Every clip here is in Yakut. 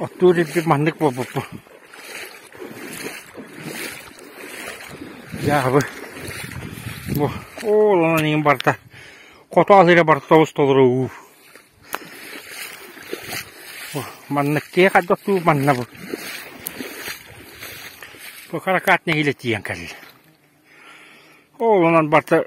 Оттуур ирбит маннык буолбуппун. Дьаабы. Бу ооланан иин барта. Хоту алыыра барта тобус толору уу. Маннык киһи хадда оттуу манна бу. Бу харакат нэһилэ тиен кэлил. Ооланан барта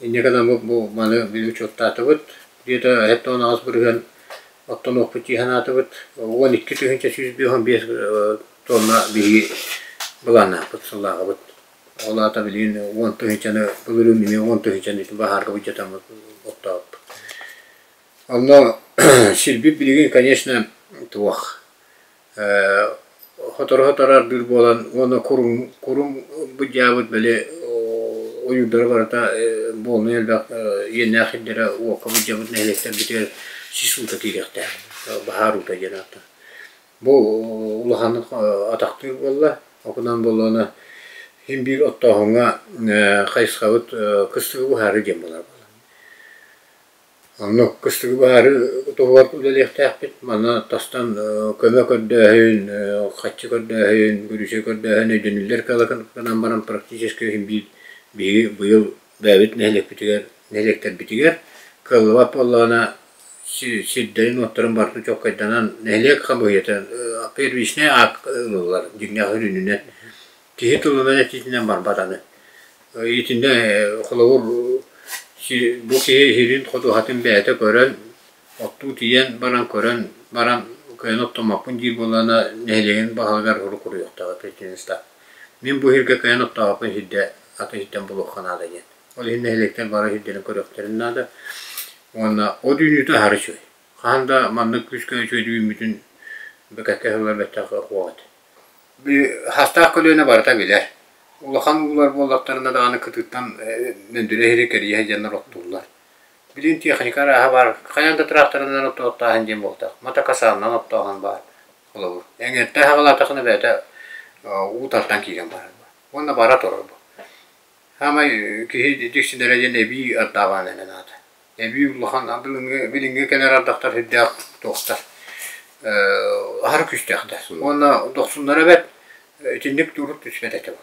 Инньэ гынаммыт бу маны мин учуоттаатыбыт. Где-то эһэтэ он аҕыс бырыһыан оттонуохпут дии санаатыбыт. Уон икки тыһыынча сүүс биэс он биэс тонна биһиги быланаахпыт, сыллааҕыбыт. Ол аата билигин уон тыһыынчаны былырыын эмиэ уон тыһыынчаны баһаарга быдьатаммыт оттообуппут. Онно сирбит билигин, конечно, туох. Сотору-сотору ардыыр буолан уонна куруҥ куруҥ ылбыт дьаабыт били ойуурдара барыта буолунай элбэх иэннээх сирдэрэ уокка былдьабыт нэһилиэктэрбитигэр сис уута киириэхтээх баһаар уута диэн ааттаах. Бу улаханнык атахтыыр буолла, окунан буоллаҕына син биир оттооһуҥҥа хайысхабыт кыстыгы буһаары диэн буолар буолла. Онно кыстыгы баары туһугар үлэлиэхтээхпит. Маны тастан көмө көрдөөһүн, хаччы көрдөөһүн, бүрүүсэ көрдөөһүн өйдөнүүлэр кыаллыккынан баран практически биир биһиги быйыл бэйэбит нэһилиэкпитигэр нэһилиэктэрбитигэр кыаллыбат буоллаҕына сирдэрин-уоттарын барытын чуолкайданан нэһилиэк хамыыһыйата первичнэй аакка ылыллар дьиҥнээх үрүнүнэн Киһи тылынан этиитинэн барбат аны. Итиннэ холобур бу киһи иһирин ходуһатын бэйэтэ көрөн, оттуу тиийэн баран көрөн баран кыайан оттоммоппун диир буоллаҕына нэһилиэгин баһылыгар урут уруйуохтаах претензиста. Мин бу иһиргэ кыайан оттообоппун иһирдэ аты иһиттэн булуохха наада диэн. Ол иһин нэһилиэктэр бары иһирдэрин көрүөхтэрин наада. Уонна о түүнүтэ аһары үчүгэй. Хаһан да маннык күүскэ үчүгэй үүммүтүн бэкэккэ сыллар бэттэх уох этэ. Саастаах көлүөнэ барыта билэр. Улахан уулар буоллахтарына даҕаны кытыыттан мөндүрэ иһири кэрийэ сылдьаннар оттууллар. Билигин тиэхиньикэ арааһа баар, хайаан да тыраахтарынан оттоохтааһын диэн буолтах. Мотокасаалынан оттооһун баар. Холобур, эҥээртэн саҕалаатаххына бэйэтэ уу тартан киирэн барар. Уонна бара турар бу. Саамай киһи дьиксинэрэ диэн эбии ардааҕаан эҥин аата. Эбии улахан билиҥҥи билиҥҥи кэлэр ардахтар сүрдээх туохтар аһара күүстээх да. Уонна дохсуннара бэрт итинник туруу түспэт этэ бу.